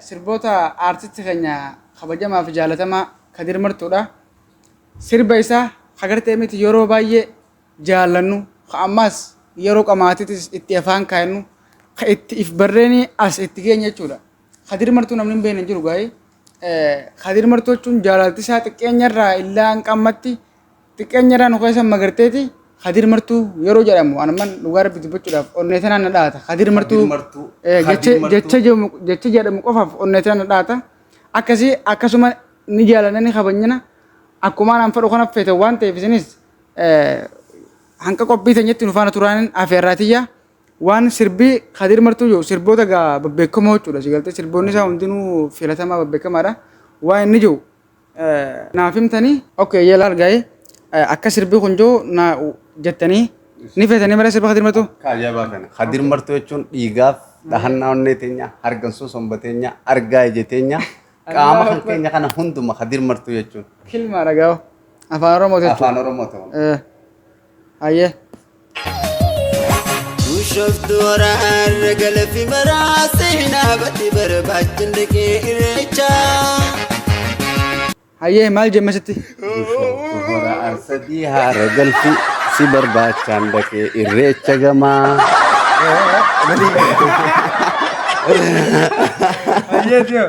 Sirboota Artist keenya kabajamaa fi jaalatamaa Kadir Martuu dha. Sirba isaa ka gartee miti yeroo baay'ee jaallannu, ka ammaas yeroo qamaatitis itti afaan kaayannu, ka itti if barreenii as itti geenye jechuudha. Kadir Martuu namni hin beekne hin jiru gaa'ii. Kadir Martuu jechuun jaalalti isaa xiqqeenya irraa illaa hanqammatti Xiqqeenyarraa nu keessa magarteeti Kadir Martuu yeroo jedhamu anamman dhugaa rabbi dubbachuudhaaf onnee tanaan na dhaata. Kadir Martuu Kadir Martuu, eh, Kadir jecha- Martuu. jecha jedhamu- jecha jedhamu qofaaf onnee tanaan na dhaata. Akkasii akkasuma ni jaalanna ni kabajnina akkuma anaan fedhu kana feetan waan ta'eef isinis eh, hanqa qophii teenyatti nu faana turaanin afeerraa tiyya. Waan sirbii Kadir Martuu jiru sirboota gaa babbeekamoo jechuudha. Sigaltee sirboonni isaa hundinuu filatamaa babbeekamaadha. Waan inni jiru naaf himtanii ok yeela argaa'e akka sirbi kun jiru na jettanii ni feetanii mara sirba kadir martuu Akka ajaa'ibaa kana. Kadir martuu jechuun dhiigaaf dhahannaa onnee teenya, hargansuu somba teenya, argaa ija teenya, qaama kan keenya kana hunduma kadir martuu jechuun kilmaa dhagaa'u afaan oromoo jechuudha. afaan Oromoo ta'u. Eh. Hayyee. Bushoftu waraarra galafi maraa seenaa bati barbaachin dhaqee irreecha. Hayyee maal jemme sitti? Hora arsadii haara galfi si barbaachaan dhaqee irreecha gamaa. Hayyee tiyoo.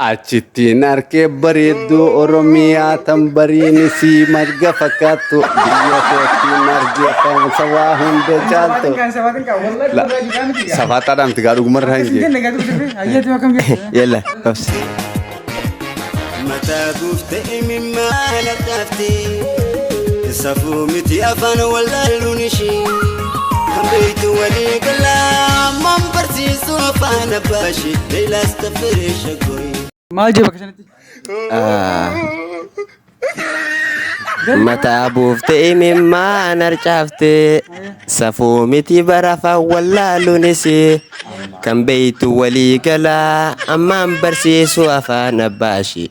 Achittiin arke bareedduu Oromiyaa tan bariin isii marga fakkaattu biyya koottiin arge kan sabaa hunda caaltu. Safaaxaadhaa miti gaa dhugumarraa hin jee. Yalla obsi. Mataa guutte imimmaan addaatti safuu miti afaan wallaaluun ishii. Kan beektu walii galaa Ammaan barsiisuu afaan abbaa ishee Leelaas taffiree shaggooyi. Maal jee bakka sanatti? Mataa buuftee imimmaan harcaaftee safuu miti barafa wallaaluunis kan beektu walii galaa ammaan barsiisuu afaan abbaa ishee.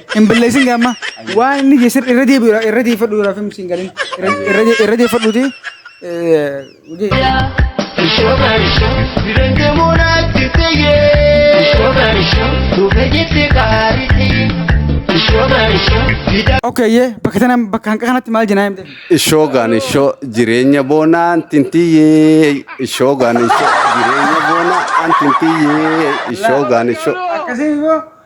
Hin billeessin gaamma. Waan inni jee sirri irra deebi'u irra deeffadhu irra fim siin galin. Irra deeffadhuuti. Okay, ye bakka tana bakka hanqa kanatti maal jenaa himte? Ishoo gaan ishoo jireenya boonaan tintiyyee ishoo gaan ishoo jireenya boonaan tintiyyee ishoo gaan ishoo. Akkasii immoo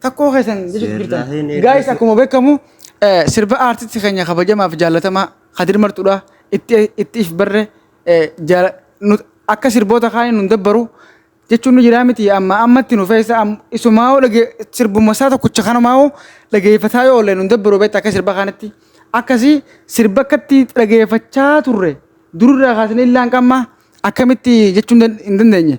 Takkoo keessan jechuutti Seerraa jirtan. hin eeggatu. Gaayis akkuma beekamu eh, sirba aartisti keenya kabajamaa fi jaallatamaa Kadir Martuudha. Itti itti if barre eh, jaala- nu- akka sirboota kaanii nun dabbaru jechuun nu jiraa miti amma ammatti nu feessa am- isumaa hoo dhage sirbuma isaa tokkicha kanumaa hoo dhageeffataa yoo oollee nun dabbaru beekta akka sirba kanatti. Akkasii sirba akkatti dhageeffachaa turre durirraa kaasnee illaan qamma akkamitti jechuun dan- hin dandeenye.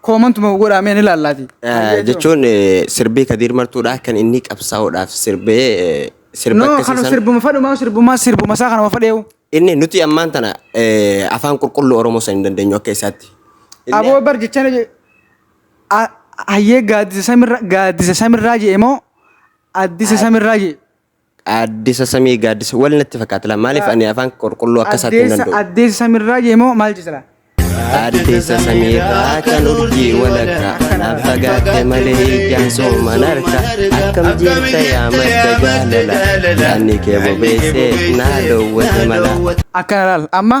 Comment moo godhaa mee ni laallaati. Jechuun eh, sirbii Kadiir Martuudhaa kan inni qabsaa'uudhaaf sirbee eh, sirba No akkasii kan sana- sirbuma fadhumaa sirbuma sirbuma isaa kanuma fadheewu. Inni nuti ammaan tana eh, afaan qulqulluu Oromoo san hin dandeenyu akka isaatti. Inni- Aboo bar jechaan je- a- hayyee gaaddisa samirra gaaddisa samirraa jee moo addisa samirraa jee. Gaaddisa samii gaaddisa wal natti fakkaata laa maaliif ani afaan qulqulluu akka isaatti hin danda'u. Addeessa samirraa jeemoo maal jisala? Addeessa samiirraa kan urjii walakkaa kanaaf fagaatte malee ijaan sooman harka akkam jirta yaa madda jaalala yaanni kee bobeessee naa dowwate mala. Akkana laal amma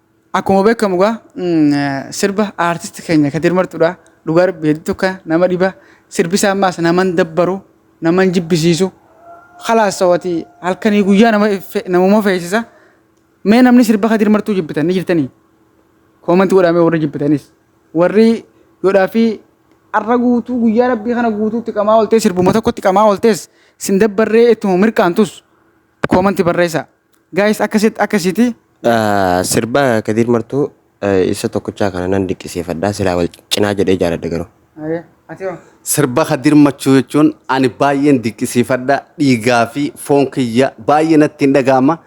Akkuma beekamu gaa sirba aartisti keenya Kadir Martuudha. Dhugaa rabbi hedduu tokko nama dhiba. Sirbi isaa ammaas naman dabbaru, naman jibbisiisu. Kalaas sawati halkanii guyyaa nama fe- namuma feesisa. Mee namni sirba Kadir Martuu jibbitan ni jirtanii? Koomanti godhaa mee warri jibbitanis. Warri godhaa fi har'a guutuu guyyaa rabbii kana guutuutti qamaa ooltee sirbuma tokkotti qamaa ooltees sin dabbarree ittuma mirqaantus koomanti barreessaa. Guys akkasit akkasiti. Sirba Kadiir Martuu isa tokkochaa kana nan diqqisiifadha silaa wal cinaa jedhee jaaladha garuu. Sirba Kadiir Machuu jechuun ani baay'een diqqisiifadha dhiigaa fi foon kiyya baay'ee natti hin dhaga'ama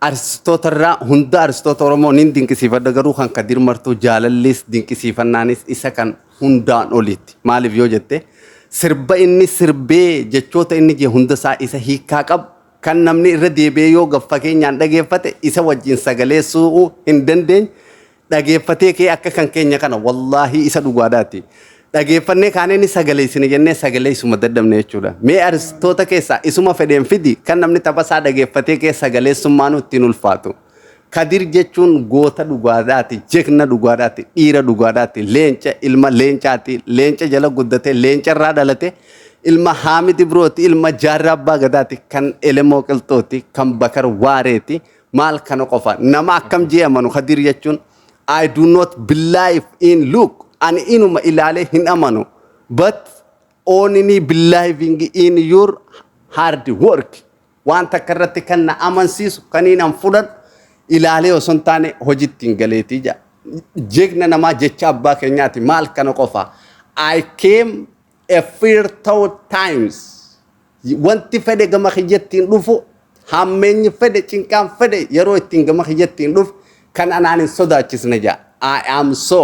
artistoota irraa hunda artistoota Oromoo niin dinqisiifadha garuu kan Kadiir Martuu jaalallis dinqisiifannaanis isa kan hundaan oliitti maaliif yoo jette sirba inni sirbee jechoota inni jee hunda isaa isa hiikaa qabu Kan namni irra deebi'ee yoo gab-fageenyaan dhageeffate isa wajjin sagalee suu'uu hin dandeenye dhageeffatee ka'ee akka kan keenya kana wallaahii isa dhugaadhaati. Dhageeffannee kaanee ni sagaleessina jennee sagaleessuma dadhabne jechuudha. Mee aristoota keessaa isuma fedheen fidi kan namni taphasaa dhageeffatee ka'ee sagaleessummaanuu ittiin ulfaatu. Kadir jechuun goota dhugaadhaati, jegna dhugaadhaati, dhiira dhugaadhaati, leenca, ilma leencaati, leenca jala guddate, leenca irraa dhalate, ilma Haamid Ibrooti, ilma Jaarraa Abbaa Gadaati, kan Elemoo Qilxooti, kan Bakar Waareeti, maal kana qofa. Nama akkam jee amanu Kadir jechuun I do not believe in look ani inuma ilaalee hin amanu but only believing in your hard work Waan takka irratti kan na amansiisu kaniin an fudhadhu ilaalee osoo hin taane hojitti hin galeetii jedha. Jegna namaa jecha abbaa keenyaati maal kana qofa. I came a fear thought times. Wanti fedhe gama kiyyatti hin dhufu hammeenyi fedhe cinqaan fedhe yeroo ittiin gama kiyyatti hin dhufu kan anaan hin sodaachisne jedha. I am so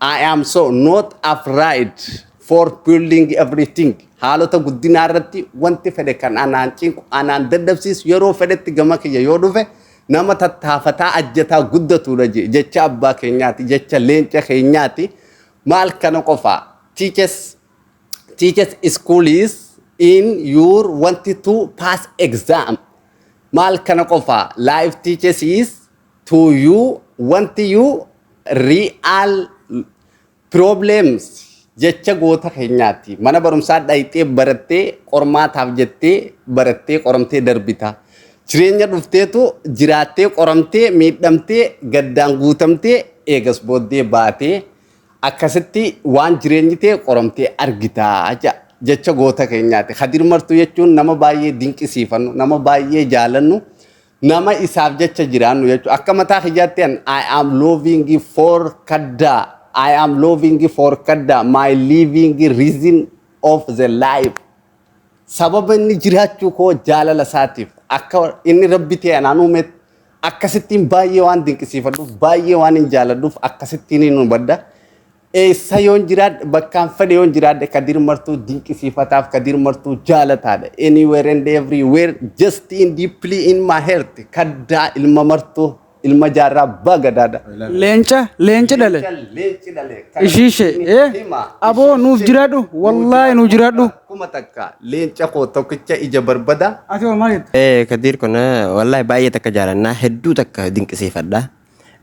I am so not afraid for building everything. Haalota guddinaa irratti wanti fedhe kan anaan cinqu, anaan dadhabsiisu yeroo fedhetti gama kiyya yoo dhufe nama tattaafataa ajjataa guddatudha je- jecha abbaa keenyaati, jecha leenca keenyaati. Maal kana qofa teaches teaches school is in your wanted to pass exam. Maal kana qofa life teaches is to you wanti you real problems jecha goota keenyaati. Mana barumsaa dhayxee barattee qormaataaf jettee barattee qoramtee darbita. Jireenya dhufteetu jiraattee qoramtee miidhamtee gaddaan guutamtee eegas booddee baatee akkasitti waan jireenyi ta'e qoramtee argita jedha. jecha goota keenyaati. Kadir Martuu jechuun nama baay'ee dinqisiifannu, nama baay'ee jaalannu, Nama isaaf jecha jiraannu jechuudha. Akka mataa kiyyaatti an I am loving for kaddaa. I am loving for kaddaa. My living reason of the life. Sababa inni jiraachuu koo jaalala isaatiif akka inni rabbi ta'e anaan uumeet akkasittiin baay'ee waan dinqisiifadhuuf baay'ee waan hin jaaladhuuf akkasittiin hin hubadha. Eessa yoon jiraadhe bakkaan fedhe yoon jiraadhe Kadir Martuu dinqisiifataaf Kadir Martuu jaalataadha. Anywhere and everywhere just in deeply in my heart kaddaa ilma martuu ilma jaarraa abbaa gadaadha. Leenca leenci dhale. Leenci dhale. Ishii ishee ee aboo nuuf jiraadhu wallaahi nuuf jiraadhu. Kuma takka leenca koo tokkicha ija barbada. Ati hoo maal jetta? Ee Kadiir kun wallaahi baay'ee takka jaalannaa hedduu takka dinqisiifadha.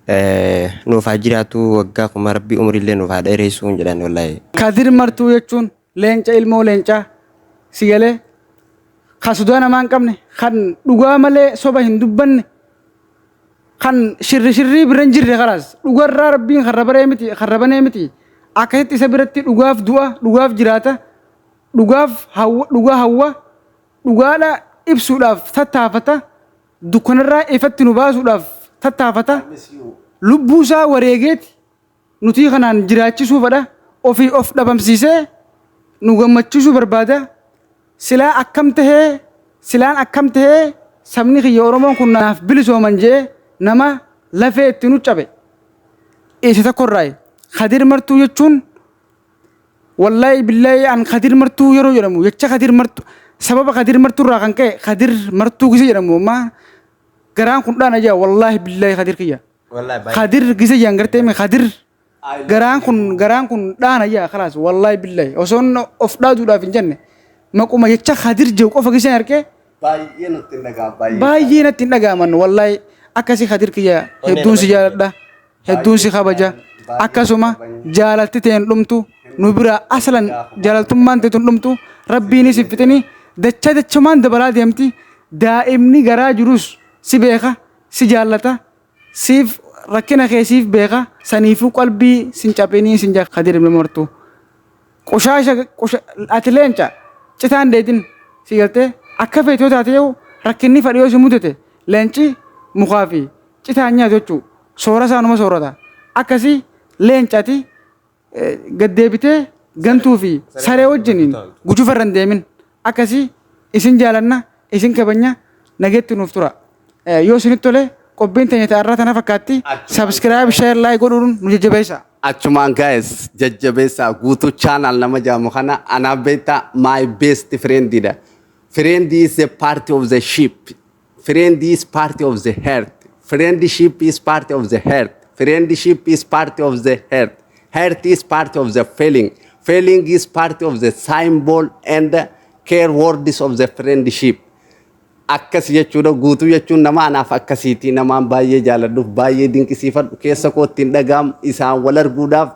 Eh, nuuf haa jiraatu waggaa kuma rabbi umrillee nuuf haa dheereessuu hin jedhan wallahi. Kadir Martuu jechuun leenca ilmoo leencaa si galee kan sodaa namaa hin qabne kan dhugaa malee soba hin dubbanne kan shirri shirrii bira hin jirre kalaas dhugarraa rabbiin kan rabaree miti kan rabanee miti akkasitti isa biratti dhugaaf du'a dhugaaf jiraata dhugaaf hawwa dhugaa hawwa dhugaadha ibsuudhaaf tattaafata dukkanarraa ifatti nu baasuudhaaf tattaafata, lubbuu isaa wareegeeti nutii kanaan jiraachisuu fadha, ofii of dhabamsiisee nu gammachiisuu barbaada, silaa akkam tahee, silaan akkam tahee sabni kiyya Oromoon kun naaf bilisooman je'ee nama lafee itti nu cabe isa tokkorraayi. Kadir Martuu jechuun. Wallahi billahi an kadir martuu yeroo jedhamu jecha kadir martu sababa kadir martuu irraa kan ka'e kadir martuu gise jedhamu amma garaan kun dhaana jaa wallahi billahi kadir kiyya Wallahi baay'ee. kadir gise jaan gartee mee kadir garaan kun garaan kun dhaana jaa kalaas wallahi billahi osoo inni of dhaaduudhaaf hin jenne maquma jecha kadir jiru qofa giseen argee Baay'ee nutti hin dhaga'amu. baay'ee natti hin dhaga'aman wallahi akkasii kadir kiyya hedduun si jaaladha. hedduun si kabaja akkasuma jaalalti tee hin dhumtu nu biraa aslan jaalaltummaan teetu hin dhumtu rabbiinis hin fixini dacha dachumaan dabalaa deemti daa'imni garaa jirus si beeka si jaallata siif rakkina kee siif beeka saniifuu qalbii sin caphinii sin jaa kadir ibn mortu qushaasha qusha ati leenca citaan deetin si galtee akka feetoo taate yoo rakkinni fadhiyoo si mudate leenci mukaa fi Citaa hin nyaatu jechuu soora isaa numa soorata. Akkasii leenca ati gad deebitee gantuu fi saree wajjiniin gujufa irra hin deemin. Akkasii isin jaalanna isin kabanya nageetti nuuf tura. Yoo isinitti tole qophiin teenya ta'arraa tana fakkaatti subscribe share like godhuun nu jajjabeessa. Achumaan guys jajjabeessaa guutuu channel nama jaamu kana anaa beektaa my best friend dha. Friend is a part of the ship. Friend is part of the heart. Friendship is part of the heart. Friendship is part of the heart. Heart is part of the feeling. Feeling is part of the symbol and care words of the friendship. Akkas jechuudha guutuu jechuun nama anaaf akkasiiti namaan baay'ee jaaladhuuf baay'ee dinqisiifadhu keessa kootti hin dhaga'amu isaan wal arguudhaaf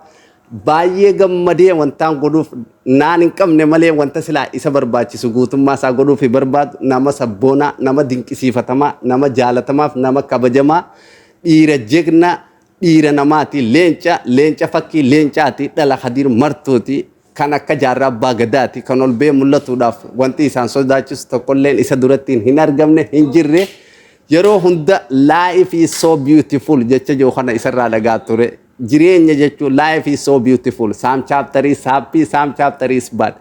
Baay'ee gammadee wantaan godhuuf naan hin qabne malee wanta silaa isa barbaachisu guutummaa isaa godhuufi barbaadu nama sabboonaa, nama dinqisiifatamaa, nama jaalatamaaf nama kabajamaa, dhiira jegna, dhiira namaati, leenca, leenca fakkii leencaati, dhala Khadir Martuuti, kan akka Jaarraa Abbaa Gadaati, kan ol ba'ee mul'atuudhaaf wanti isaan sodaachisu tokkolleen isa durattiin hin argamne, hin jirre. Yeroo hunda life is so beautiful jecha jiru kana isarraa dhagaa ture. Jireenya jechuun life is so beautiful some chapter is happy some chapter is bad.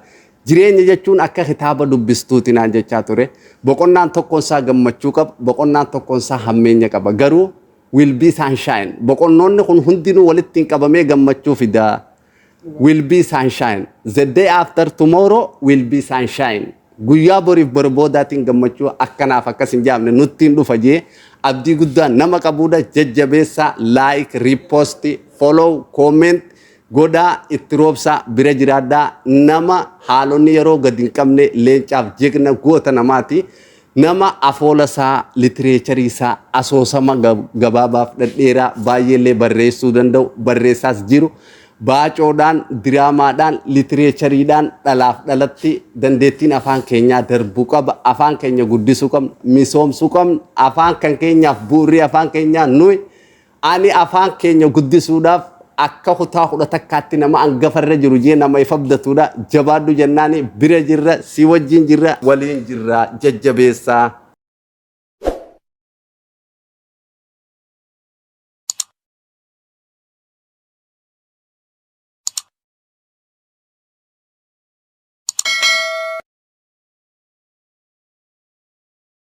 Jireenya jechuun akka kitaaba dubbistuuti naan jechaa ture. Boqonnaan tokkoon isaa gammachuu qaba, boqonnaan tokkoon isaa hammeenya qaba. Garuu will be sunshine. Boqonnoonni kun hundinuu walitti hin qabamee gammachuu fidaa. will be sunshine the day after tomorrow will be sunshine guyyaa boriif bor boodaatiin gammachuu akkanaaf akkas hin jaamne nuttiin dhufa jee abdii guddaa nama qabuudha jajjabeessaa like repost follow comment godhaa itti roobsaa bira jiraadhaa nama haalonni yeroo gad hin qabne leencaaf jegna goota namaati Nama afoola isaa, litireecharii isaa, asoosama gabaabaaf dhadheeraa baay'ee illee barreessuu danda'u, barreessaas jiru, baacoodhaan, diraamaadhaan, litireechariidhaan dhalaaf dhalatti dandeettiin afaan keenyaa darbu qaba. Afaan keenya guddisuu qabna, misoomsuu qabna. Afaan kan keenyaaf bu'urri afaan keenyaa nuyi. Ani afaan keenya guddisuudhaaf akka kutaa kudha takkaatti nama angafa irra jiru jee nama if abdatuudha. Jabaadhu jennaani bira jirra, si wajjin jirra, waliin jirra jajjabeessaa.